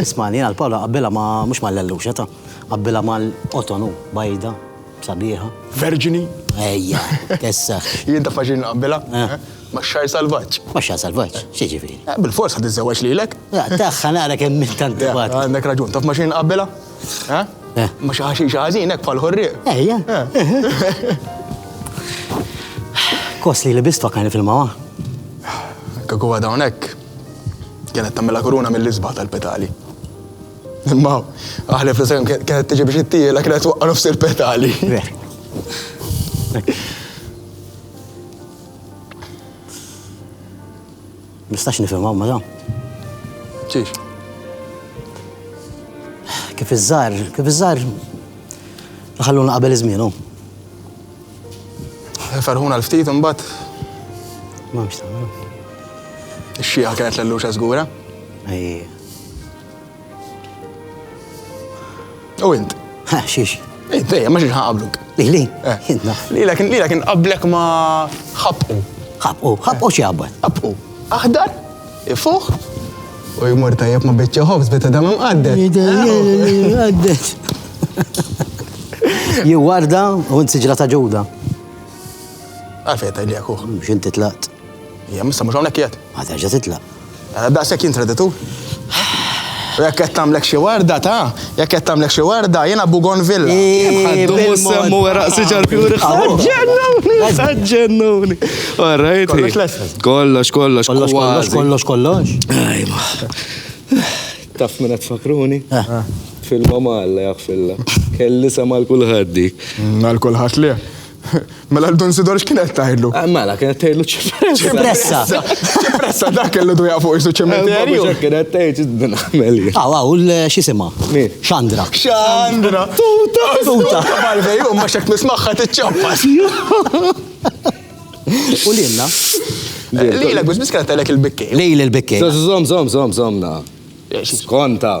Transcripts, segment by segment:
Ismani, jiena l-pawla qabbilha ma mhux mal-lelluxa ta' qabbilha mal-qotonu, bajda, sabiħa. Verġini? Ejja, kesseħ. Jien taf ma xi nqabbilha? Max-xagħar salvaġġ. Max-xagħar salvaġġ? X'jiġifieri? Bilfors ħa tiżżewweġ lilek. Tagħha nara kemm int antipatiku. Għandek raġun, taf ma xi nqabbilha? Ma xi ħaxixa ħażin hekk bħall-ħorrieq. Ejja. Kos li libistu għakani fil-mawa. Kieku għadha hawnhekk. Kienet tagħmilha kuruna mill-isbaħ tal-petali. Imma aħlef li sehem kienet tiġi biex ittiela kienet waqqa' nofs il-petali. Nistax nifhimha ma da. Ċiex? Kif iż-żar, kif iż-żar ħalluna qabel iż-żmienu. Ferħuna l-ftit imbagħad. M'hemmx tagħmlu. Ix-xieqa kienet l-luċa żgura. Ejja. U int? Ha, xiex? Int, ejja, ma xiex ħaqabluk. Lili? Eh. Lila kien lila kien qablek ma ħabqu. ħabqu, ħabqu xi qabad. Ħabqu. Aħdar? Ifuħ u jmur tajjeb ma' biċċa ħobż beta dam imqaddet. Imqaddet. Jew warda u nsiġra ta' ġuda. Għafeta li għakuħ. Mux inti tlaqt. Ja, missa mux għonek jgħat. Għata ġa titlaq. Għada daqsek jintreditu. U jekk qed tagħmlek xi warda ta' Jekk qed tagħmlek xi warda, jiena Bugonvilla. Ħaddu mhux semmu weraq siġar fjuri. Ħaġġennuni, ħaġġennuni. Orrejt. Kollox lesel. Kollox, kollox. Kollox, kollox, kollox, kollox. Ajma. Taf minn qed fakruni? Eh. Fil-mama Alla jaħfilla. Kelli sema l-kulħadd dik. Mm, għal kulħadd li. Mela l-Dun Sidor x'kien qed tgħidlu? Ah, mela kien qed tgħidlu ċipressa. Ċipressa. Ċipressa dak kellu dwejja fuq isu ċementerju. Mela kien qed tgħid din għamel. Aw aw x'isimha? Xandra. Xandra. Tuta. Tuta. Barbej u ma xek nismaħħa tiċċappas. U lilna. Lila biss biss kienet għalek il-bikkej. Lejl il-bikkej. Zom zom zom zomna. Skonta.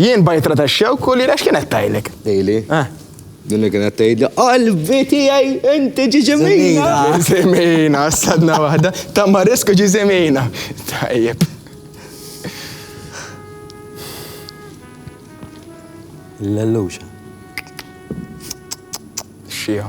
Jien bajtra ta' xewk u li rex kienet tajlek. Tejli. Eh. Din li kienet tgħidli, qalbi tiegħi inti ġiġimina. Ġiżimina, sadna waħda, ta' marisku ġiżimina. Tajjeb. L-lelluxa. Xija.